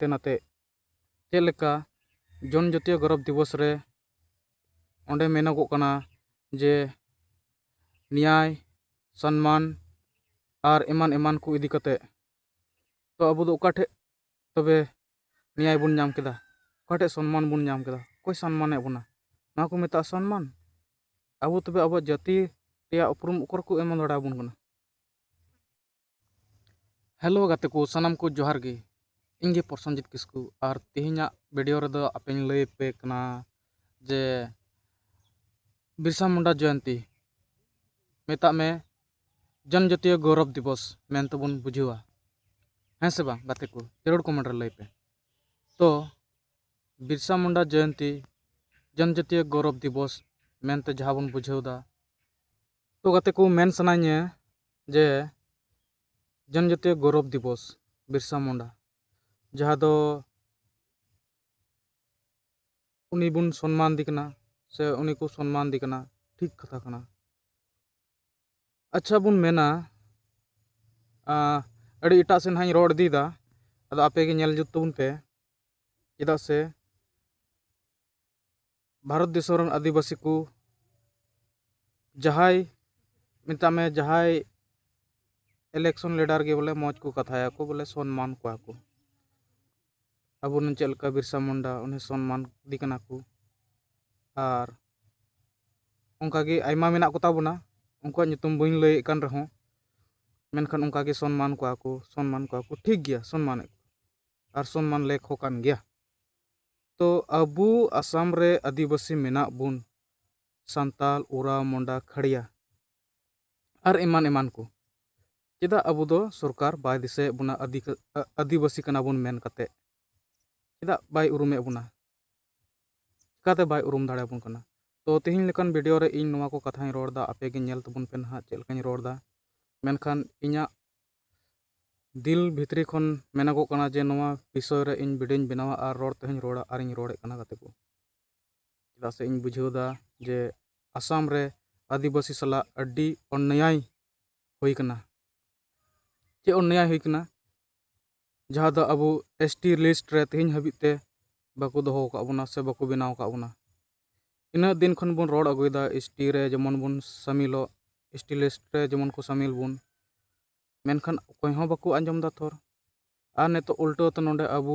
ᱦᱟᱱᱛᱮ ᱱᱟᱛᱮ ᱪᱮᱫ ᱞᱮᱠᱟ ᱡᱚᱱ ᱡᱟᱹᱛᱤᱭᱚ ᱜᱚᱨᱚᱵᱽ ᱫᱤᱵᱚᱥ ᱨᱮ ᱚᱸᱰᱮ ᱢᱮᱱᱚᱜᱚᱜ ᱠᱟᱱᱟ ᱡᱮ ᱱᱮᱭᱟᱭ ᱥᱚᱱᱢᱟᱱ ᱟᱨ ᱮᱢᱟᱱ ᱮᱢᱟᱱ ᱠᱚ ᱤᱫᱤ ᱠᱟᱛᱮᱫ ᱛᱚ ᱟᱵᱚ ᱫᱚ ᱚᱠᱟ ᱴᱷᱮᱱ ᱛᱚᱵᱮ ᱱᱮᱭᱟᱭ ᱵᱚᱱ ᱧᱟᱢ ᱠᱮᱫᱟ ᱚᱠᱟ ᱴᱷᱮᱱ ᱥᱚᱱᱢᱟᱱ ᱵᱚᱱ ᱧᱟᱢ ᱠᱮᱫᱟ ᱚᱠᱚᱭ ᱥᱚᱱᱢᱟᱱᱮᱫ ᱵᱚᱱᱟ ᱱᱚᱣᱟ ᱠᱚ ᱢᱮᱛᱟᱜᱼᱟ ᱥᱚᱱᱢᱟᱱ ᱟᱵᱚ ᱛᱚᱵᱮ ᱟᱵᱚᱣᱟᱜ ᱡᱟᱹᱛᱤ ᱨᱮᱭᱟᱜ ᱩᱯᱨᱩᱢ ᱚᱠᱚᱭ ᱠᱚ ᱮᱢ ᱫᱟᱲᱮᱭᱟᱵᱚᱱ ᱠᱟᱱᱟ ᱦᱮᱞᱳ ᱜᱟᱛᱮ ᱠᱚ ᱥᱟᱱᱟᱢ ᱠᱚ ᱡᱚᱦᱟᱨ ᱜᱮ ᱤᱧ ᱜᱮ ᱯᱨᱚᱥᱚᱱᱡᱤᱛ ᱠᱤᱥᱠᱩ ᱟᱨ ᱛᱮᱦᱮᱧᱟᱜ ᱵᱷᱤᱰᱤᱭᱳ ᱨᱮᱫᱚ ᱟᱯᱮᱧ ᱞᱟᱹᱭ ᱟᱯᱮ ᱠᱟᱱᱟ ᱡᱮ ᱵᱤᱨᱥᱟ ᱢᱩᱱᱰᱟ ᱡᱚᱭᱚᱱᱛᱤ ᱢᱮᱛᱟᱜ ᱢᱮ ᱡᱚᱱᱡᱟᱛᱤᱭᱚ ᱜᱚᱨᱚᱵ ᱫᱤᱵᱚᱥ ᱢᱮᱱᱛᱮ ᱵᱚᱱ ᱵᱩᱡᱷᱟᱹᱣᱟ ᱦᱮᱸ ᱥᱮ ᱵᱟᱝ ᱜᱟᱛᱮ ᱠᱚ ᱡᱟᱹᱨᱩᱲ ᱠᱚᱢᱮᱱᱴ ᱨᱮ ᱞᱟᱹᱭ ᱯᱮ ᱛᱚ ᱵᱤᱨᱥᱟ ᱢᱩᱱᱰᱟ ᱡᱚᱭᱚᱱᱛᱤ ᱡᱚᱱᱡᱟᱛᱤᱭᱚ ᱜᱚᱨᱚᱵ ᱫᱤᱵᱚᱥ ᱢᱮᱱᱛᱮ ᱡᱟᱦᱟᱸ ᱵᱚᱱ ᱵᱩᱡᱷᱟᱹᱣᱫᱟ ᱛᱚ ᱜᱟᱛᱮ ᱠᱚ ᱢᱮᱱ ᱥᱟᱱᱟᱧᱟ ᱡᱮ ᱡᱚᱱᱡᱟᱛᱤᱭᱚ ᱜᱚᱨᱚᱵᱽ ᱫᱤᱵᱚᱥ ᱵᱤᱨᱥᱟ ᱢᱩᱱᱰᱟ ᱡᱟᱦᱟᱸ ᱫᱚ ᱩᱱᱤ ᱵᱚᱱ ᱥᱚᱱᱢᱟᱱ ᱫᱮ ᱠᱟᱱᱟ ᱥᱮ ᱩᱱᱤ ᱠᱚ ᱥᱚᱱᱢᱟᱱ ᱫᱮ ᱠᱟᱱᱟ ᱴᱷᱤᱠ ᱠᱟᱛᱷᱟ ᱠᱟᱱᱟ ᱟᱪᱪᱷᱟ ᱵᱚᱱ ᱢᱮᱱᱟ ᱟᱹᱰᱤ ᱮᱴᱟᱜ ᱥᱮᱫ ᱦᱟᱸᱜ ᱤᱧ ᱨᱚᱲ ᱤᱫᱤᱭᱮᱫᱟ ᱟᱫᱚ ᱟᱯᱮ ᱜᱮ ᱧᱮᱞ ᱡᱩᱛ ᱛᱟᱵᱚᱱ ᱯᱮ ᱪᱮᱫᱟᱜ ᱥᱮ ᱵᱷᱟᱨᱚᱛ ᱫᱤᱥᱚᱢ ᱨᱮᱱ ᱟᱹᱫᱤᱵᱟᱹᱥᱤ ᱠᱚ ᱡᱟᱦᱟᱸᱭ ᱢᱮᱛᱟᱜ ᱢᱮ ᱡᱟᱦᱟᱸᱭ ᱤᱞᱮᱠᱥᱚᱱ ᱞᱤᱰᱟᱨ ᱜᱮ ᱵᱚᱞᱮ ᱢᱚᱡᱽ ᱠᱚ ᱠᱟᱛᱷᱟᱭᱟᱠᱚ ᱵᱚᱞᱮ ᱥᱚᱱᱢᱟᱱ ᱠᱚᱣᱟ ᱠᱚ ᱟᱵᱚ ᱨᱮᱱ ᱪᱮᱫ ᱞᱮᱠᱟ ᱵᱤᱨᱥᱟ ᱢᱩᱱᱰᱟ ᱩᱱᱤ ᱥᱚᱱᱢᱟᱱ ᱤᱫᱤ ᱠᱟᱱᱟ ᱠᱚ ᱟᱨ ᱚᱱᱠᱟ ᱜᱮ ᱟᱭᱢᱟ ᱢᱮᱱᱟᱜ ᱠᱚᱛᱟ ᱵᱚᱱᱟ ᱩᱱᱠᱩᱣᱟᱜ ᱧᱩᱛᱩᱢ ᱵᱟᱹᱧ ᱞᱟᱹᱭᱮᱫ ᱠᱟᱱ ᱨᱮᱦᱚᱸ ᱢᱮᱱᱠᱷᱟᱱ ᱚᱱᱠᱟ ᱜᱮ ᱥᱚᱱᱢᱟᱱ ᱠᱚᱣᱟ ᱠᱚ ᱥᱚᱱᱢᱟᱱ ᱠᱚᱣᱟ ᱠᱚ ᱴᱷᱤᱠ ᱜᱮᱭᱟ ᱥᱚᱱᱢᱟᱱᱮᱫ ᱠᱚᱣᱟ ᱟᱨ ᱥᱚᱱᱢᱟᱱ ᱞᱮᱠ ᱦᱚᱸ ᱠᱟᱱ ᱜᱮᱭᱟ ᱛᱚ ᱟᱵᱚ ᱟᱥᱟᱢ ᱨᱮ ᱟᱹᱫᱤᱵᱟᱹᱥᱤ ᱢᱮᱱᱟᱜ ᱵᱚᱱ ᱥᱟᱱᱛᱟᱲ ᱳᱨᱟ ᱢᱩᱱᱰᱟ ᱠᱷᱟᱲᱭᱟ ᱟᱨ ᱮᱢᱟᱱ ᱮᱢᱟᱱ ᱠᱚ ᱪᱮᱫᱟᱜ ᱟᱵᱚ ᱫᱚ ᱥᱚᱨᱠᱟᱨ ᱵᱟᱭ ᱫᱤᱥᱟᱹᱭᱮᱫ ᱵᱚᱱᱟ ᱟᱹᱫᱤᱵᱟᱹᱥᱤ ᱠᱟᱱᱟ ᱵᱚᱱ ᱢᱮᱱ ᱠᱟᱛᱮᱫ ᱪᱮᱫᱟᱜ ᱵᱟᱭ ᱩᱨᱩᱢᱮᱫ ᱵᱚᱱᱟ ᱪᱤᱠᱟᱹᱛᱮ ᱵᱟᱭ ᱩᱨᱩᱢ ᱫᱟᱲᱮᱭᱟᱵᱚᱱ ᱠᱟᱱᱟ ᱛᱚ ᱛᱮᱦᱮᱧ ᱞᱮᱠᱟᱱ ᱵᱷᱤᱰᱤᱭᱳ ᱨᱮ ᱤᱧ ᱱᱚᱣᱟ ᱠᱚ ᱠᱟᱛᱷᱟᱧ ᱨᱚᱲ ᱮᱫᱟ ᱟᱯᱮ ᱜᱮ ᱧᱮᱞ ᱛᱟᱵᱚᱱ ᱯᱮ ᱱᱟᱦᱟᱜ ᱪᱮᱫ ᱞᱮᱠᱟᱧ ᱨᱚᱲ ᱮᱫᱟ ᱢᱮᱱᱠᱷᱟᱱ ᱤᱧᱟᱹᱜ ᱫᱤᱞ ᱵᱷᱤᱛᱨᱤ ᱠᱷᱚᱱ ᱢᱮᱱᱚᱜᱚᱜ ᱠᱟᱱᱟ ᱡᱮ ᱱᱚᱣᱟ ᱵᱤᱥᱚᱭ ᱨᱮ ᱤᱧ ᱵᱷᱤᱰᱤᱭᱳᱧ ᱵᱮᱱᱟᱣᱟ ᱟᱨ ᱨᱚᱲ ᱛᱮᱦᱚᱧ ᱨᱚᱲᱟ ᱟᱨᱤᱧ ᱨᱚᱲᱮᱫ ᱠᱟᱱᱟ ᱜᱟᱛᱮ ᱠᱚ ᱪᱮᱫᱟᱜ ᱥᱮ ᱤᱧ ᱵᱩᱡᱷᱟᱹᱣ ᱮᱫᱟ ᱡᱮ ᱟᱥᱟᱢ ᱨᱮ ᱟᱹᱫᱤᱵᱟᱹᱥᱤ ᱥᱟᱞᱟᱜ ᱟᱹᱰᱤ ᱚᱱᱱᱮᱭᱟᱭ ᱦᱩᱭ ᱠᱟᱱᱟ ᱪᱮᱫ ᱚᱱᱱᱮᱭᱟᱭ ᱦᱩᱭ ᱠᱟᱱᱟ ᱡᱟᱦᱟᱸ ᱫᱚ ᱟᱵᱚ ᱮᱥ ᱴᱤ ᱞᱤᱥᱴ ᱨᱮ ᱛᱮᱦᱮᱧ ᱦᱟᱹᱵᱤᱡ ᱛᱮ ᱵᱟᱠᱚ ᱫᱚᱦᱚ ᱟᱠᱟᱫ ᱵᱚᱱᱟ ᱥᱮ ᱵᱟᱠᱚ ᱵᱮᱱᱟᱣ ᱟᱠᱟᱫ ᱵᱚᱱᱟ ᱤᱱᱟᱹᱜ ᱫᱤᱱ ᱠᱷᱚᱱ ᱵᱚᱱ ᱨᱚᱲ ᱟᱹᱜᱩᱭᱮᱫᱟ ᱮᱥ ᱴᱤ ᱨᱮ ᱡᱮᱢᱚᱱ ᱵᱚᱱ ᱥᱟᱹᱢᱤᱞᱚᱜ ᱮᱥ ᱴᱤ ᱞᱤᱥᱴ ᱨᱮ ᱡᱮᱢᱚᱱ ᱠᱚ ᱥᱟᱹᱢᱤᱞ ᱵᱚᱱ ᱢᱮᱱᱠᱷᱟᱱ ᱚᱠᱚᱭ ᱦᱚᱸ ᱵᱟᱠᱚ ᱟᱸᱡᱚᱢ ᱮᱫᱟ ᱛᱷᱚᱨ ᱟᱨ ᱱᱤᱛᱚᱜ ᱩᱞᱴᱟᱹ ᱛᱮ ᱱᱚᱰᱮ ᱟᱵᱚ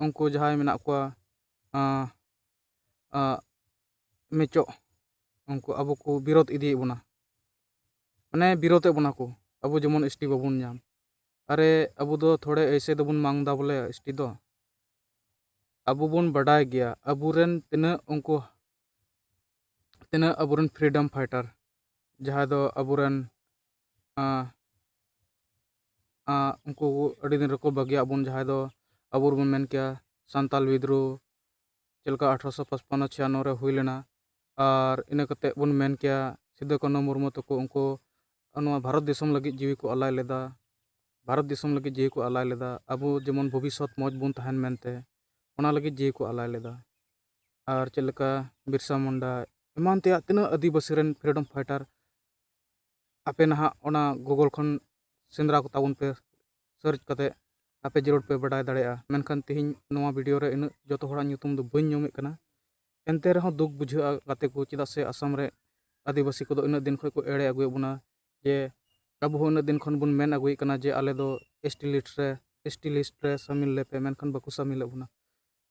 ᱩᱱᱠᱩ ᱡᱟᱦᱟᱸᱭ ᱢᱮᱱᱟᱜ ᱠᱚᱣᱟ ᱢᱮᱪᱚᱜ ᱩᱱᱠᱩ ᱟᱵᱚ ᱠᱚ ᱵᱤᱨᱳᱫ ᱤᱫᱤᱭᱮᱫ ᱵᱚᱱᱟ ᱢᱟᱱᱮ ᱵᱤᱨᱳᱫᱮᱫ ᱵᱚᱱᱟ ᱠᱚ ᱟᱵᱚ ᱡᱮᱢᱚᱱ ᱮᱥ ᱴᱤ ᱵᱟᱵᱚᱱ ᱧᱟᱢ ᱟᱨᱮ ᱟᱵᱚ ᱫᱚ ᱛᱷᱚᱲᱮ ᱮᱭᱥᱮ ᱫᱚᱵᱚᱱ ᱢᱟᱝ ᱫᱟ ᱵᱚᱞᱮ ᱮᱥ ᱴᱤ ᱫᱚ ᱟᱵᱚ ᱵᱚᱱ ᱵᱟᱰᱟᱭ ᱜᱮᱭᱟ ᱟᱵᱚᱨᱮᱱ ᱛᱤᱱᱟᱹᱜ ᱩᱱᱠᱩ ᱛᱤᱱᱟᱹᱜ ᱟᱵᱚᱨᱮᱱ ᱯᱷᱨᱤᱰᱚᱢ ᱯᱷᱟᱭᱴᱟᱨ ᱡᱟᱦᱟᱸᱭ ᱫᱚ ᱟᱵᱚᱨᱮᱱ ᱩᱱᱠᱩ ᱟᱹᱰᱤ ᱫᱤᱱ ᱨᱮᱠᱚ ᱵᱟᱹᱜᱤᱭᱟᱜ ᱵᱚᱱ ᱡᱟᱦᱟᱸᱭ ᱫᱚ ᱟᱵᱚ ᱵᱚᱱ ᱢᱮᱱ ᱠᱮᱭᱟ ᱥᱟᱱᱛᱟᱞ ᱵᱤᱫᱽᱨᱳᱦᱚ ᱪᱮᱫ ᱞᱮᱠᱟ ᱟᱴᱷᱨᱚᱥᱚ ᱯᱟᱸᱪᱯᱚᱱᱱᱚ ᱪᱷᱤᱭᱟᱱᱱᱚ ᱨᱮ ᱦᱩᱭ ᱞᱮᱱᱟ ᱟᱨ ᱤᱱᱟᱹ ᱠᱟᱛᱮᱫ ᱵᱚᱱ ᱢᱮᱱ ᱠᱮᱭᱟ ᱥᱤᱫᱩ ᱠᱟᱹᱱᱦᱩ ᱢᱩᱨᱢᱩ ᱛᱟᱠᱚ ᱩᱱᱠᱩ ᱱᱚᱣᱟ ᱵᱷᱟᱨᱚᱛ ᱫᱤᱥᱚᱢ ᱞᱟᱹᱜᱤᱫ ᱡᱤᱣᱤ ᱠᱚ ᱟᱞᱟᱭ ᱞᱮᱫᱟ ᱵᱷᱟᱨᱚᱛ ᱫᱤᱥᱚᱢ ᱞᱟᱹᱜᱤᱫ ᱡᱤᱣᱤ ᱠᱚ ᱟᱞᱟᱭ ᱞᱮᱫᱟ ᱟᱵᱚ ᱡᱮᱢᱚᱱ ᱵᱷᱚᱵᱤᱥᱥᱚᱛ ᱢᱚᱡᱽ ᱵᱚᱱ ᱛᱟᱦᱮᱱ ᱢᱮᱱᱛᱮ ᱚᱱᱟ ᱞᱟᱹᱜᱤᱫ ᱡᱤᱣᱤ ᱠᱚ ᱟᱞᱟᱭ ᱞᱮᱫᱟ ᱟᱨ ᱪᱮᱫ ᱞᱮᱠᱟ ᱵᱤᱨᱥᱟ ᱢᱩᱱᱰᱟ ᱮᱢᱟᱱ ᱛᱮᱭᱟᱜ ᱛᱤᱱᱟᱹᱜ ᱟᱹᱫᱤᱵᱟᱹᱥᱤ ᱨᱮᱱ ᱯᱷᱨᱤᱰᱚᱢ ᱯᱷᱟᱭᱴᱟᱨ ᱟᱯᱮ ᱱᱟᱦᱟᱜ ᱚᱱᱟ ᱜᱩᱜᱳᱞ ᱠᱷᱚᱱ ᱥᱮᱸᱫᱽᱨᱟ ᱠᱚᱛᱟ ᱵᱚᱱ ᱯᱮ ᱥᱟᱨᱪ ᱠᱟᱛᱮ ᱟᱯᱮ ᱡᱟᱹᱨᱩᱲ ᱯᱮ ᱵᱟᱰᱟᱭ ᱫᱟᱲᱮᱭᱟᱜᱼᱟ ᱢᱮᱱᱠᱷᱟᱱ ᱛᱮᱦᱮᱧ ᱱᱚᱣᱟ ᱵᱷᱤᱰᱤᱭᱳ ᱨᱮ ᱤᱱᱟᱹᱜ ᱡᱚᱛᱚ ᱦᱚᱲᱟᱜ ᱧᱩᱛᱩᱢ ᱫᱚ ᱵᱟᱹᱧ ᱧᱩᱢᱮᱫ ᱠᱟᱱᱟ ᱮᱱᱛᱮ ᱨᱮᱦᱚᱸ ᱫᱩᱠ ᱵᱩᱡᱷᱟᱹᱜᱼᱟ ᱜᱟᱛᱮ ᱠᱚ ᱪᱮᱫᱟᱜ ᱥᱮ ᱟᱥᱟᱢ ᱨᱮ ᱟᱹᱫᱤᱵᱟᱹᱥᱤ ᱠᱚᱫᱚ ᱤᱱᱟᱹᱜ ᱫᱤᱱ ᱠᱷᱚᱱ ᱠᱚ ᱮᱲᱮ ᱟᱹᱜᱩᱭᱮᱫ ᱵᱚᱱᱟ ᱡᱮ ᱟᱵᱚ ᱦᱚᱸ ᱤᱱᱟᱹᱜ ᱫᱤᱱ ᱠᱷᱚᱱ ᱵᱚᱱ ᱢᱮᱱ ᱟᱹᱜᱩᱭᱮᱫ ᱠᱟᱱᱟ ᱡᱮ ᱟᱞᱮ ᱫᱚ ᱮᱥ ᱴᱤ ᱞᱤᱥᱴ ᱨᱮ ᱮᱥ ᱴᱤ ᱞᱤᱥᱴ ᱨᱮ ᱥᱟᱹᱢᱤᱞ ᱞᱮᱯᱮ ᱢᱮᱱᱠᱷᱟᱱ ᱵᱟᱠᱚ ᱥᱟᱹᱢᱤᱞᱮᱫ ᱵᱚᱱᱟ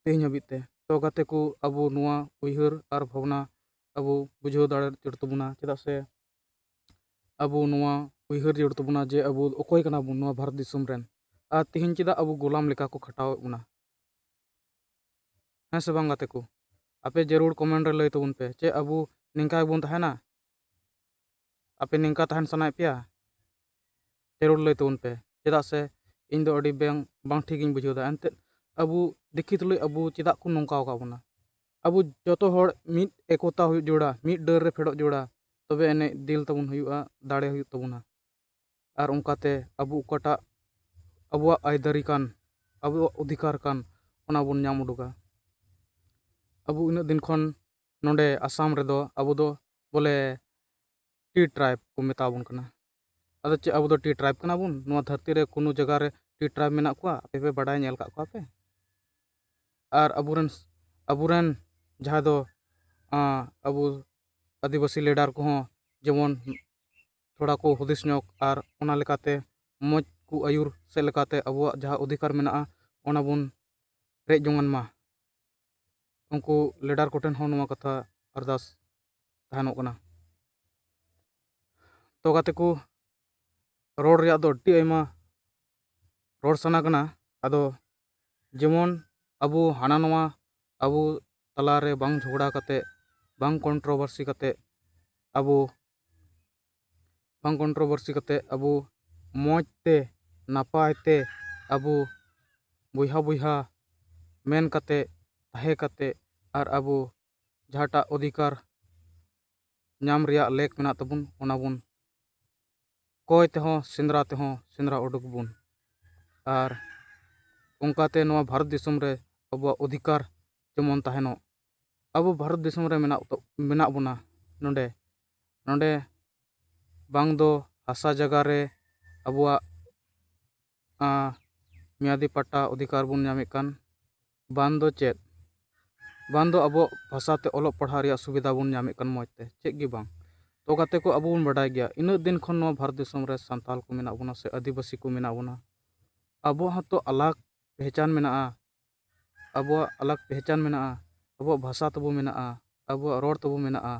ᱛᱮᱦᱮᱧ ᱦᱟᱹᱵᱤᱡ ᱛᱮ ᱛᱚ ᱜᱟᱛᱮ ᱠᱚ ᱟᱵᱚ ᱱᱚᱣᱟ ᱩᱭᱦᱟᱹᱨ ᱟᱨ ᱵᱷᱟᱵᱽᱱᱟ ᱟᱵᱚ ᱵᱩᱡᱷᱟᱹᱣ ᱫᱟᱲᱮ ᱡᱟᱹᱨᱩᱲ ᱛᱟᱵᱚᱱᱟ ᱪᱮᱫᱟᱜ ᱥᱮ ᱟᱵᱚ ᱱᱚᱣᱟ ᱩᱭᱦᱟᱹᱨ ᱡᱟᱹᱨᱩᱲ ᱛᱟᱵᱚᱱᱟ ᱡᱮ ᱟᱵᱚ ᱚᱠᱚᱭ ᱠᱟᱱᱟ ᱵᱚᱱ ᱱᱚᱣᱟ ᱵᱷᱟᱨᱚᱛ ᱫᱤᱥᱚᱢ ᱨᱮᱱ ᱟᱨ ᱛᱮᱦᱮᱧ ᱪᱮᱫᱟᱜ ᱟᱵᱚ ᱜᱳᱞᱟᱢ ᱞᱮᱠᱟ ᱠᱚ ᱠᱷᱟᱴᱟᱣᱮᱫ ᱵᱚᱱᱟ ᱦᱮᱸ ᱥᱮ ᱵᱟᱝ ᱜᱟᱛᱮ ᱠᱚ ᱟᱯᱮ ᱡᱟᱹᱨᱩᱲ ᱠᱚᱢᱮᱱᱴ ᱨᱮ ᱞᱟᱹᱭ ᱛᱟᱵᱚᱱ ᱯᱮ ᱪᱮᱫ ᱟᱵᱚ ᱱᱤᱝᱠᱟ ᱜᱮᱵᱚᱱ ᱛᱟᱦᱮᱱᱟ ᱟᱯᱮ ᱱᱤᱝᱠᱟ ᱛᱟᱦᱮᱱ ᱥᱟᱱᱟᱭᱮᱫ ᱯᱮᱭᱟ ᱡᱟᱹᱨᱩᱲ ᱞᱟᱹᱭ ᱛᱟᱵᱚᱱ ᱯᱮ ᱪᱮᱫᱟᱜ ᱥᱮ ᱤᱧ ᱫᱚ ᱟᱹᱰᱤ ᱵᱟᱝ ᱵᱟᱝ ᱴᱷᱤᱠᱤᱧ ᱵᱩᱡᱷᱟᱹᱣᱫᱟ ᱮᱱᱛᱮᱫ ᱟᱵᱚ ᱫᱤᱠᱷᱤ ᱛᱩᱞᱩᱡ ᱟᱵᱚ ᱪᱮᱫᱟᱜ ᱠᱚ ᱱᱚᱝᱠᱟ ᱟᱠᱟᱫ ᱵᱚᱱᱟ ᱟᱵᱚ ᱡᱚᱛᱚ ᱦᱚᱲ ᱢᱤᱫ ᱮᱠᱚᱛᱟ ᱦᱩᱭᱩᱜ ᱡᱟᱹᱨᱩᱲᱟ ᱢᱤᱫ ᱰᱟᱹᱨ ᱨᱮ ᱯᱷᱮᱰᱚᱜ ᱡᱟᱹᱨᱩᱲᱟ ᱛᱚᱵᱮ ᱟᱹᱱᱤᱡ ᱫᱤᱞ ᱛᱟᱵᱚᱱ ᱦᱩᱭᱩᱜᱼᱟ ᱫᱟᱲᱮ ᱦᱩᱭᱩᱜ ᱛᱟᱵᱚᱱᱟ ᱟᱨ ᱚᱱᱠᱟᱛᱮ ᱟᱵᱚ ᱚᱠᱟᱴᱟᱜ ᱟᱵᱚᱣᱟᱜ ᱟᱹᱭᱫᱟᱹᱨᱤ ᱠᱟᱱ ᱟᱵᱚᱣᱟᱜ ᱚᱫᱷᱤᱠᱟᱨ ᱠᱟᱱ ᱚᱱᱟ ᱵᱚᱱ ᱧᱟᱢ ᱩᱰᱩᱠᱟ ᱟᱵᱚ ᱩᱱᱟᱹᱜ ᱫᱤᱱ ᱠᱷᱚᱱ ᱱᱚᱰᱮ ᱟᱥᱟᱢ ᱨᱮᱫᱚ ᱟᱵᱚ ᱫᱚ ᱵᱚᱞᱮ ᱴᱤ ᱴᱨᱟᱭᱤᱵᱽ ᱠᱚ ᱢᱮᱛᱟ ᱵᱚᱱ ᱠᱟᱱᱟ ᱟᱫᱚ ᱪᱮᱫ ᱟᱵᱚ ᱫᱚ ᱴᱤ ᱴᱨᱟᱭᱤᱵᱽ ᱠᱟᱱᱟ ᱵᱚᱱ ᱱᱚᱣᱟ ᱫᱷᱟᱹᱨᱛᱤ ᱨᱮ ᱠᱳᱱᱳ ᱡᱟᱭᱜᱟ ᱨᱮ ᱴᱤ ᱴᱨᱟᱭᱤᱵᱽ ᱢᱮᱱᱟᱜ ᱠᱚᱣᱟ ᱟᱯᱮ ᱯᱮ ᱵᱟᱰᱟᱭ ᱧᱮᱞ ᱟᱠᱟᱫ ᱠᱚᱣᱟ ᱯᱮ ᱟᱨ ᱟᱵᱚ ᱨᱮᱱ ᱟᱵᱚ ᱨᱮᱱ ᱡᱟᱦᱟᱸ ᱫᱚ ᱟᱵᱚ ᱟᱹᱫᱤᱵᱟᱹᱥᱤ ᱞᱤᱰᱟᱨ ᱠᱚᱦᱚᱸ ᱡᱮᱢᱚᱱ ᱛᱷᱚᱲᱟ ᱠᱚ ᱦᱩᱫᱤᱥ ᱧᱚᱜᱽ ᱟᱨ ᱚᱱᱟ ᱞᱮᱠᱟᱛᱮ ᱢᱚᱡᱽ ᱠᱚ ᱟᱹᱭᱩᱨ ᱥᱮᱫ ᱞᱮᱠᱟᱛᱮ ᱟᱵᱚᱣᱟᱜ ᱡᱟᱦᱟᱸ ᱚᱫᱷᱤᱠᱟᱨ ᱢᱮᱱᱟᱜᱼᱟ ᱚᱱᱟ ᱵᱚᱱ ᱨᱮᱡ ᱡᱚᱝᱟᱱ ᱢᱟ ᱩᱱᱠᱩ ᱞᱤᱰᱟᱨ ᱠᱚᱴᱷᱮᱱ ᱦᱚᱸ ᱱᱚᱣᱟ ᱠᱟᱛᱷᱟ ᱟᱨᱫᱟᱥ ᱛᱟᱦᱮᱱᱚᱜ ᱠᱟᱱᱟ ᱛᱚ ᱜᱟᱛᱮ ᱠᱚ ᱨᱚᱲ ᱨᱮᱭᱟᱜ ᱫᱚ ᱟᱹᱰᱤ ᱟᱭᱢᱟ ᱨᱚᱲ ᱥᱟᱱᱟ ᱠᱟᱱᱟ ᱟᱫᱚ ᱡᱮᱢᱚᱱ ᱟᱵᱚ ᱦᱟᱱᱟ ᱱᱚᱣᱟ ᱟᱵᱚ ᱛᱟᱞᱟᱨᱮ ᱵᱟᱝ ᱡᱷᱚᱜᱽᱲᱟ ᱠᱟᱛᱮᱫ ᱵᱟᱝ ᱠᱚᱱᱴᱨᱚᱵᱷᱟᱨᱥᱤ ᱠᱟᱛᱮᱫ ᱟᱵᱚ ᱵᱟᱝ ᱠᱚᱱᱴᱨᱚᱵᱚᱨᱥᱤ ᱠᱟᱛᱮᱫ ᱟᱵᱚ ᱢᱚᱡᱽ ᱛᱮ ᱱᱟᱯᱟᱭ ᱛᱮ ᱟᱵᱚ ᱵᱚᱭᱦᱟ ᱵᱚᱭᱦᱟ ᱢᱮᱱ ᱠᱟᱛᱮᱫ ᱛᱟᱦᱮᱸ ᱠᱟᱛᱮᱫ ᱟᱨ ᱟᱵᱚ ᱡᱟᱦᱟᱸᱴᱟᱜ ᱚᱫᱷᱤᱠᱟᱨ ᱧᱟᱢ ᱨᱮᱭᱟᱜ ᱞᱮᱠ ᱢᱮᱱᱟᱜ ᱛᱟᱵᱚᱱ ᱚᱱᱟ ᱵᱚᱱ ᱠᱚᱭ ᱛᱮᱦᱚᱸ ᱥᱮᱸᱫᱽᱨᱟ ᱛᱮᱦᱚᱸ ᱥᱮᱸᱫᱽᱨᱟ ᱩᱰᱩᱠ ᱵᱚᱱ ᱟᱨ ᱚᱱᱠᱟᱛᱮ ᱱᱚᱣᱟ ᱵᱷᱟᱨᱚᱛ ᱫᱤᱥᱚᱢ ᱨᱮ ᱟᱵᱚᱣᱟᱜ ᱚᱫᱷᱤᱠᱟᱨ ᱡᱮᱢᱚᱱ ᱛᱟᱦᱮᱱᱚᱜ ᱟᱵᱚ ᱵᱷᱟᱨᱚᱛ ᱫᱤᱥᱚᱢ ᱨᱮ ᱢᱮᱱᱟᱜ ᱢᱮᱱᱟᱜ ᱵᱚᱱᱟ ᱱᱚᱰᱮ ᱱᱚᱰᱮ ᱵᱟᱝ ᱫᱚ ᱦᱟᱥᱟ ᱡᱟᱭᱜᱟ ᱨᱮ ᱟᱵᱚᱣᱟᱜ ᱢᱮᱭᱟᱫᱤ ᱯᱟᱴᱴᱟ ᱚᱫᱷᱤᱠᱟᱨ ᱵᱚᱱ ᱧᱟᱢᱮᱫ ᱠᱟᱱ ᱵᱟᱝ ᱫᱚ ᱪᱮᱫ ᱵᱟᱝ ᱫᱚ ᱟᱵᱚ ᱵᱷᱟᱥᱟ ᱛᱮ ᱚᱞᱚᱜ ᱯᱟᱲᱦᱟᱜ ᱨᱮᱭᱟᱜ ᱥᱩᱵᱤᱫᱷᱟ ᱵᱚᱱ ᱧᱟᱢᱮᱫ ᱠᱟᱱ ᱢᱚᱡᱽ ᱛᱮ ᱪᱮᱫ ᱜᱮ ᱵᱟᱝ ᱛᱚ ᱜᱟᱛᱮ ᱠᱚ ᱟᱵᱚ ᱵᱚᱱ ᱵᱟᱰᱟᱭ ᱜᱮᱭᱟ ᱤᱱᱟᱹᱜ ᱫᱤᱱ ᱠᱷᱚᱱ ᱱᱚᱣᱟ ᱵᱷᱟᱨᱚᱛ ᱫᱤᱥᱚᱢ ᱨᱮ ᱥᱟᱱᱛᱟᱲ ᱠᱚ ᱢᱮᱱᱟᱜ ᱵᱚᱱᱟ ᱥᱮ ᱟᱹᱫᱤᱵᱟᱹᱥᱤ ᱠᱚ ᱢᱮᱱᱟᱜ ᱵᱚᱱᱟ ᱟᱵᱚᱣᱟᱜ ᱦᱚᱸᱛᱚ ᱟᱞᱟᱜᱽ ᱯᱮᱦᱪᱟᱱ ᱢᱮᱱᱟᱜᱼᱟ ᱟᱵᱚᱣᱟᱜ ᱟᱞᱟᱜᱽ ᱯᱮᱦᱪᱟᱱ ᱢᱮᱱᱟᱜᱼᱟ ᱟᱵᱚᱣᱟᱜ ᱵᱷᱟᱥᱟ ᱛᱟᱵᱚ ᱢᱮᱱᱟᱜᱼᱟ ᱟᱵᱚᱣᱟᱜ ᱨᱚᱲ ᱛᱟᱵᱚ ᱢᱮᱱᱟᱜᱼᱟ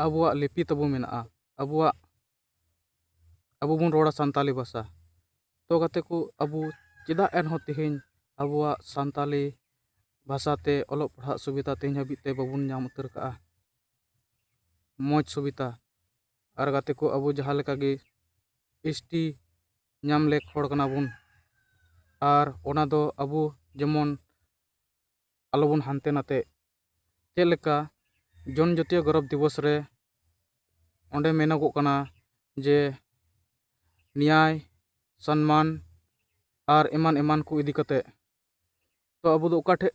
ᱟᱵᱚᱣᱟᱜ ᱞᱤᱯᱤ ᱛᱟᱵᱚ ᱢᱮᱱᱟᱜᱼᱟ ᱟᱵᱚᱣᱟᱜ ᱟᱵᱚ ᱵᱚᱱ ᱨᱚᱲᱟ ᱥᱟᱱᱛᱟᱲᱤ ᱵᱷᱟᱥᱟ ᱛᱚ ᱜᱟᱛᱮ ᱠᱚ ᱟᱵᱚ ᱪᱮᱫᱟᱜ ᱮᱱᱦᱚᱸ ᱛᱮᱦᱮᱧ ᱟᱵᱚᱣᱟᱜ ᱥᱟᱱᱛᱟᱲᱤ ᱵᱷᱟᱥᱟ ᱛᱮ ᱚᱞᱚᱜ ᱯᱟᱲᱦᱟᱜ ᱥᱩᱵᱤᱫᱷᱟ ᱛᱮᱦᱮᱧ ᱦᱟᱹᱵᱤᱡ ᱛᱮ ᱵᱟᱵᱚᱱ ᱧᱟᱢ ᱩᱛᱟᱹᱨ ᱠᱟᱜᱼᱟ ᱢᱚᱡᱽ ᱥᱩᱵᱤᱫᱷᱟ ᱟᱨ ᱜᱟᱛᱮ ᱠᱚ ᱟᱵᱚ ᱡᱟᱦᱟᱸ ᱞᱮᱠᱟᱜᱮ ᱮᱥ ᱴᱤ ᱧᱟᱢ ᱞᱮᱠ ᱦᱚᱲ ᱠᱟᱱᱟ ᱵᱚᱱ ᱟᱨ ᱚᱱᱟ ᱫᱚ ᱟᱵᱚ ᱡᱮᱢᱚᱱ ᱟᱞᱚ ᱵᱚᱱ ᱦᱟᱱᱛᱮ ᱱᱟᱛᱮᱜ ᱪᱮᱫ ᱞᱮᱠᱟ ᱡᱚᱱ ᱡᱟᱹᱛᱤᱭᱚ ᱜᱚᱨᱚᱵᱽ ᱫᱤᱵᱚᱥ ᱨᱮ ᱚᱸᱰᱮ ᱢᱮᱱᱚᱜᱚᱜ ᱠᱟᱱᱟ ᱡᱮ ᱱᱮᱭᱟᱭ ᱥᱚᱱᱢᱟᱱ ᱟᱨ ᱮᱢᱟᱱ ᱮᱢᱟᱱ ᱠᱚ ᱤᱫᱤ ᱠᱟᱛᱮᱫ ᱛᱚ ᱟᱵᱚ ᱫᱚ ᱚᱠᱟ ᱴᱷᱮᱱ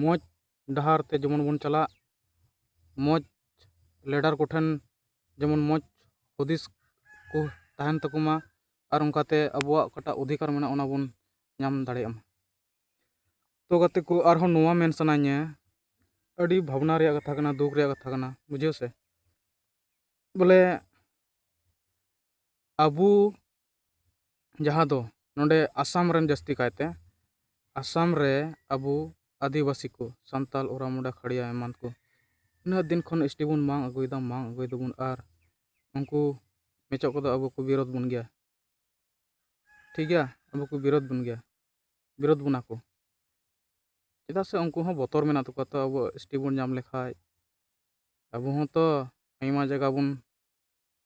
ᱢᱚᱡᱽ ᱰᱟᱦᱟᱨ ᱛᱮ ᱡᱮᱢᱚᱱ ᱵᱚᱱ ᱪᱟᱞᱟᱜ ᱢᱚᱡᱽ ᱞᱤᱰᱟᱨ ᱠᱚᱴᱷᱮᱱ ᱡᱮᱢᱚᱱ ᱢᱚᱡᱽ ᱦᱩᱫᱤᱥ ᱠᱚ ᱛᱟᱦᱮᱱ ᱛᱟᱠᱚ ᱢᱟ ᱟᱨ ᱚᱱᱠᱟᱛᱮ ᱟᱵᱚᱣᱟᱜ ᱚᱠᱟᱴᱟᱜ ᱚᱫᱷᱤᱠᱟᱨ ᱢᱮᱱᱟᱜᱼᱟ ᱚᱱᱟ ᱵᱚᱱ ᱧᱟᱢ ᱫᱟᱲᱮᱭᱟᱜ ᱢᱟ ᱛᱚ ᱜᱟᱛᱮ ᱠᱚ ᱟᱨᱦᱚᱸ ᱱᱚᱣᱟ ᱢᱮᱱ ᱥᱟᱱᱟᱧᱟ ᱟᱹᱰᱤ ᱵᱷᱟᱵᱽᱱᱟ ᱨᱮᱭᱟᱜ ᱠᱟᱛᱷᱟ ᱠᱟᱱᱟ ᱫᱩᱠ ᱨᱮᱭᱟᱜ ᱠᱟᱛᱷᱟ ᱠᱟᱱᱟ ᱵᱩᱡᱷᱟᱹᱣ ᱥᱮ ᱵᱚᱞᱮ ᱟᱵᱚ ᱡᱟᱦᱟᱸ ᱫᱚ ᱱᱚᱸᱰᱮ ᱟᱥᱟᱢ ᱨᱮᱱ ᱡᱟᱹᱥᱛᱤ ᱠᱟᱭᱛᱮ ᱟᱥᱟᱢ ᱨᱮ ᱟᱵᱚ ᱟᱹᱫᱤᱵᱟᱹᱥᱤ ᱠᱚ ᱥᱟᱱᱛᱟᱲ ᱳᱨᱟ ᱢᱩᱱᱰᱟ ᱠᱷᱟᱲᱭᱟ ᱮᱢᱟᱱ ᱠᱚ ᱩᱱᱟᱹᱜ ᱫᱤᱱ ᱠᱷᱚᱱ ᱮᱥ ᱴᱤ ᱵᱚᱱ ᱢᱟᱜ ᱟᱹᱜᱩᱭᱮᱫᱟ ᱢᱟᱜ ᱟᱹᱜᱩᱭ ᱫᱟᱵᱚᱱ ᱟᱨ ᱩᱱᱠᱩ ᱢᱮᱪᱚᱜ ᱠᱚᱫᱚ ᱟᱵᱚ ᱠᱚ ᱵᱤᱨᱳᱫᱷ ᱵᱚᱱ ᱜᱮᱭᱟ ᱴᱷᱤᱠ ᱜᱮᱭᱟ ᱟᱵᱚ ᱠᱚ ᱵᱤᱨᱳᱫᱷ ᱵᱚᱱ ᱜᱮᱭᱟ ᱵᱤᱨᱳᱫᱷ ᱵᱚᱱᱟ ᱠᱚ ᱪᱮᱫᱟᱜ ᱥᱮ ᱩᱱᱠᱩ ᱦᱚᱸ ᱵᱚᱛᱚᱨ ᱢᱮᱱᱟᱜ ᱛᱟᱠᱚᱣᱟ ᱛᱚ ᱟᱵᱚ ᱮᱥ ᱴᱤ ᱵᱚᱱ ᱧᱟᱢ ᱞᱮᱠᱷᱟᱱ ᱟᱵᱚ ᱦᱚᱸᱛᱚ ᱟᱭᱢᱟ ᱡᱟᱭᱜᱟ ᱵᱚᱱ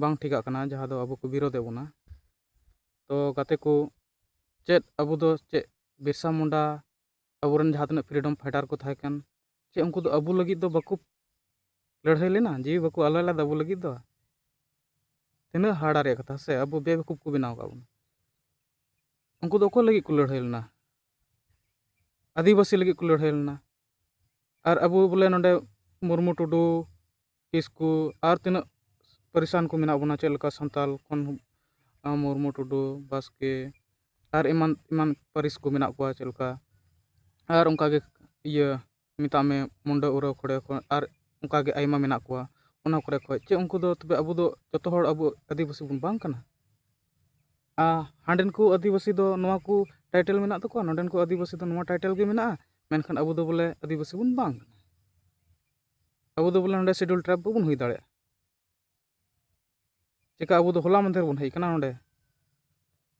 ᱵᱟᱝ ᱴᱷᱤᱠᱟᱜ ᱠᱟᱱᱟ ᱡᱟᱦᱟᱸ ᱫᱚ ᱟᱵᱚ ᱠᱚ ᱵᱤᱨᱳᱫᱮᱫ ᱵᱚᱱᱟ ᱛᱚ ᱜᱟᱛᱮ ᱠᱚ ᱪᱮᱫ ᱟᱵᱚ ᱫᱚ ᱪᱮᱫ ᱵᱤᱨᱥᱟ ᱢᱩᱱᱰᱟ ᱟᱵᱚᱨᱮᱱ ᱡᱟᱦᱟᱸ ᱛᱤᱱᱟᱹᱜ ᱯᱷᱨᱤᱰᱚᱢ ᱯᱷᱟᱭᱴᱟᱨ ᱠᱚ ᱛᱟᱦᱮᱸ ᱠᱟᱱ ᱪᱮᱫ ᱩᱱᱠᱩ ᱫᱚ ᱟᱵᱚ ᱞᱟᱹᱜᱤᱫ ᱫᱚ ᱵᱟᱠᱚ ᱞᱟᱹᱲᱦᱟᱹᱭ ᱞᱮᱱᱟ ᱡᱤᱣᱤ ᱵᱟᱠᱚ ᱟᱞᱟᱭ ᱞᱮᱫᱟ ᱟᱵᱚ ᱞᱟᱹᱜᱤᱫ ᱫᱚ ᱛᱤᱱᱟᱹᱜ ᱦᱟᱦᱟᱲᱟ ᱨᱮᱭᱟᱜ ᱠᱟᱛᱷᱟ ᱥᱮ ᱟᱵᱚ ᱵᱮᱵᱟᱠᱩᱯᱷ ᱠᱚ ᱵᱮᱱᱟᱣ ᱟᱠᱟᱫ ᱵᱚᱱᱟ ᱩᱱᱠᱩ ᱫᱚ ᱚᱠᱚᱭ ᱞᱟᱹᱜᱤᱫ ᱠᱚ ᱞᱟᱹᱲᱦᱟᱹᱭ ᱞᱮᱱᱟ ᱟᱹᱫᱤᱵᱟᱹᱥᱤ ᱞᱟᱹᱜᱤᱫ ᱠᱚ ᱞᱟᱹᱲᱦᱟᱹᱭ ᱞᱮᱱᱟ ᱟᱨ ᱟᱵᱚ ᱵᱚᱞᱮ ᱱᱚᱰᱮ ᱢᱩᱨᱢᱩ ᱴᱩᱰᱩ ᱠᱤᱥᱠᱩ ᱟᱨ ᱛᱤᱱᱟᱹᱜ ᱯᱟᱹᱨᱤᱥᱟᱱ ᱠᱚ ᱢᱮᱱᱟᱜ ᱵᱚᱱᱟ ᱪᱮᱫ ᱞᱮᱠᱟ ᱥᱟᱱᱛᱟᱲ ᱠᱷᱚᱱ ᱢᱩᱨᱢᱩ ᱴᱩᱰᱩ ᱵᱟᱥᱠᱮ ᱟᱨ ᱮᱢᱟᱱ ᱮᱢᱟᱱ ᱯᱟᱹᱨᱤᱥ ᱠᱚ ᱢᱮᱱᱟᱜ ᱠᱚᱣᱟ ᱪᱮᱫ ᱞᱮᱠᱟ ᱟᱨ ᱚᱱᱠᱟᱜᱮ ᱤᱭᱟᱹ ᱢᱮᱛᱟᱜ ᱢᱮ ᱢᱩᱱᱰᱟᱹ ᱩᱨᱟᱣ ᱠᱷᱚᱲᱭᱟ ᱠᱷᱚᱸᱰ ᱟᱨ ᱚᱱᱠᱟ ᱜᱮ ᱟᱭᱢᱟ ᱢᱮᱱᱟᱜ ᱠᱚᱣᱟ ᱚᱱᱟ ᱠᱚᱨᱮ ᱠᱷᱚᱱ ᱪᱮᱫ ᱩᱱᱠᱩ ᱫᱚ ᱛᱚᱵᱮ ᱟᱵᱚ ᱫᱚ ᱡᱚᱛᱚ ᱦᱚᱲ ᱟᱵᱚ ᱟᱹᱫᱤᱵᱟᱹᱥᱤ ᱵᱚᱱ ᱵᱟᱝ ᱠᱟᱱᱟ ᱟᱨ ᱦᱟᱸᱰᱮᱱ ᱠᱚ ᱟᱹᱫᱤᱵᱟᱹᱥᱤ ᱫᱚ ᱱᱚᱣᱟ ᱠᱚ ᱴᱟᱭᱴᱮᱞ ᱢᱮᱱᱟᱜ ᱛᱟᱠᱚᱣᱟ ᱱᱚᱰᱮᱱ ᱠᱚ ᱟᱹᱫᱤᱵᱟᱹᱥᱤ ᱫᱚ ᱱᱚᱣᱟ ᱴᱟᱭᱴᱮᱞ ᱜᱮ ᱢᱮᱱᱟᱜᱼᱟ ᱢᱮᱱᱠᱷᱟᱱ ᱟᱵᱚ ᱫᱚ ᱵᱚᱞᱮ ᱟᱹᱫᱤᱵᱟᱹᱥᱤ ᱵᱚᱱ ᱵᱟᱝ ᱠᱟᱱᱟ ᱟᱵᱚ ᱫᱚ ᱵᱚᱞᱮ ᱱᱚᱰᱮ ᱥᱤᱰᱩᱞ ᱴᱨᱟᱭᱤᱵᱽ ᱵᱟᱵᱚᱱ ᱦᱩᱭ ᱫᱟᱲᱮᱭᱟᱜᱼᱟ ᱪᱮᱠᱟ ᱟᱵᱚ ᱫᱚ ᱦᱚᱞᱟ ᱢᱟᱫᱷᱮᱨ ᱵᱚᱱ ᱦᱮᱡ ᱠᱟᱱᱟ ᱱᱚᱰᱮ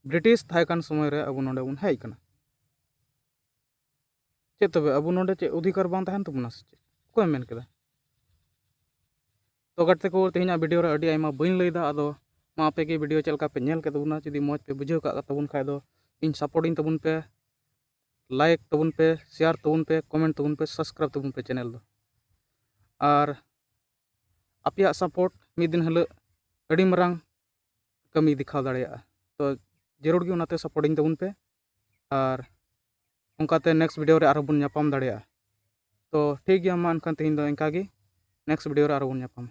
ᱵᱨᱤᱴᱤᱥ ᱛᱟᱦᱮᱸ ᱠᱟᱱ ᱥᱚᱢᱚᱭ ᱨᱮ ᱟᱵᱚ ᱱᱚᱰᱮ ᱵᱚᱱ ᱦᱮᱡ ᱠᱟᱱᱟ ᱪᱮᱫ ᱛᱚᱵᱮ ᱟᱵᱚ ᱱᱚᱰᱮ ᱪᱮᱫ ᱚᱫᱷᱤᱠᱟᱨ ᱵᱟᱝ ᱛᱟᱦᱮᱱ ᱛᱟᱵᱚᱱᱟ ᱥᱮ ᱪᱮᱫ ᱚᱠᱚᱭ ᱢᱮᱱ ᱠᱮᱫᱟ ᱛᱚ ᱜᱟᱛᱮ ᱠᱚ ᱛᱮᱦᱮᱧᱟᱜ ᱵᱷᱤᱰᱤᱭᱳ ᱨᱮ ᱟᱹᱰᱤ ᱟᱭᱢᱟ ᱵᱟᱹᱧ ᱞᱟᱹᱭᱫᱟ ᱟᱫᱚ ᱢᱟ ᱟᱯᱮ ᱜᱮ ᱵᱷᱤᱰᱤᱭᱳ ᱪᱮᱫ ᱞᱮᱠᱟ ᱯᱮ ᱧᱮᱞ ᱠᱮᱫ ᱛᱟᱵᱚᱱᱟ ᱡᱩᱫᱤ ᱢᱚᱡᱽ ᱯᱮ ᱵᱩᱡᱷᱟᱹᱣ ᱠᱟᱜ ᱛᱟᱵᱚᱱ ᱠᱷᱟᱡ ᱫᱚ ᱤᱧ ᱥᱟᱯᱳᱨᱴᱤᱧ ᱛᱟᱵᱚᱱ ᱯᱮ ᱞᱟᱭᱤᱠ ᱛᱟᱵᱚᱱ ᱯᱮ ᱥᱮᱭᱟᱨ ᱛᱟᱵᱚᱱ ᱯᱮ ᱠᱚᱢᱮᱱᱴ ᱛᱟᱵᱚᱱ ᱯᱮ ᱥᱟᱵᱥᱠᱨᱟᱭᱤᱵ ᱛᱟᱵᱚᱱ ᱯᱮ ᱪᱮᱱᱮᱞ ᱫᱚ ᱟᱨ ᱟᱯᱮᱭᱟᱜ ᱥᱟᱯᱳᱨᱴ ᱢᱤᱫ ᱫᱤᱱ ᱦᱤᱞᱳᱜ ᱟᱹᱰᱤ ᱢᱟᱨᱟᱝ ᱠᱟᱹᱢᱤ ᱫᱮᱠᱷᱟᱣ ᱫᱟᱲᱮᱭᱟᱜᱼᱟ ᱛᱚ ᱡᱟᱹᱨᱩᱲ ᱜᱮ ᱚᱱᱟᱛᱮ ᱥᱟᱯᱳᱨᱴᱤᱧ ᱛᱟᱵᱚᱱ ᱯᱮ ᱟᱨ ᱚᱱᱠᱟᱛᱮ ᱱᱮᱠᱥᱴ ᱵᱷᱤᱰᱤᱭᱳ ᱨᱮ ᱟᱨᱦᱚᱸ ᱵᱚᱱ ᱧᱟᱯᱟᱢ ᱫᱟᱲᱮᱭᱟᱜᱼᱟ ᱛᱚ ᱴᱷᱤᱠ ᱜᱮᱭᱟ ᱢᱟ ᱮᱱᱠᱷᱟᱱ ᱛᱮᱦᱮᱧ ᱫᱚ ᱤᱱᱠᱟᱹ ᱜᱮ ᱱᱮᱠᱥᱴ ᱵᱷᱤᱰᱤᱭᱳ ᱨᱮ ᱟᱨᱦᱚᱸ ᱵᱚᱱ ᱧᱟᱯᱟᱢᱟ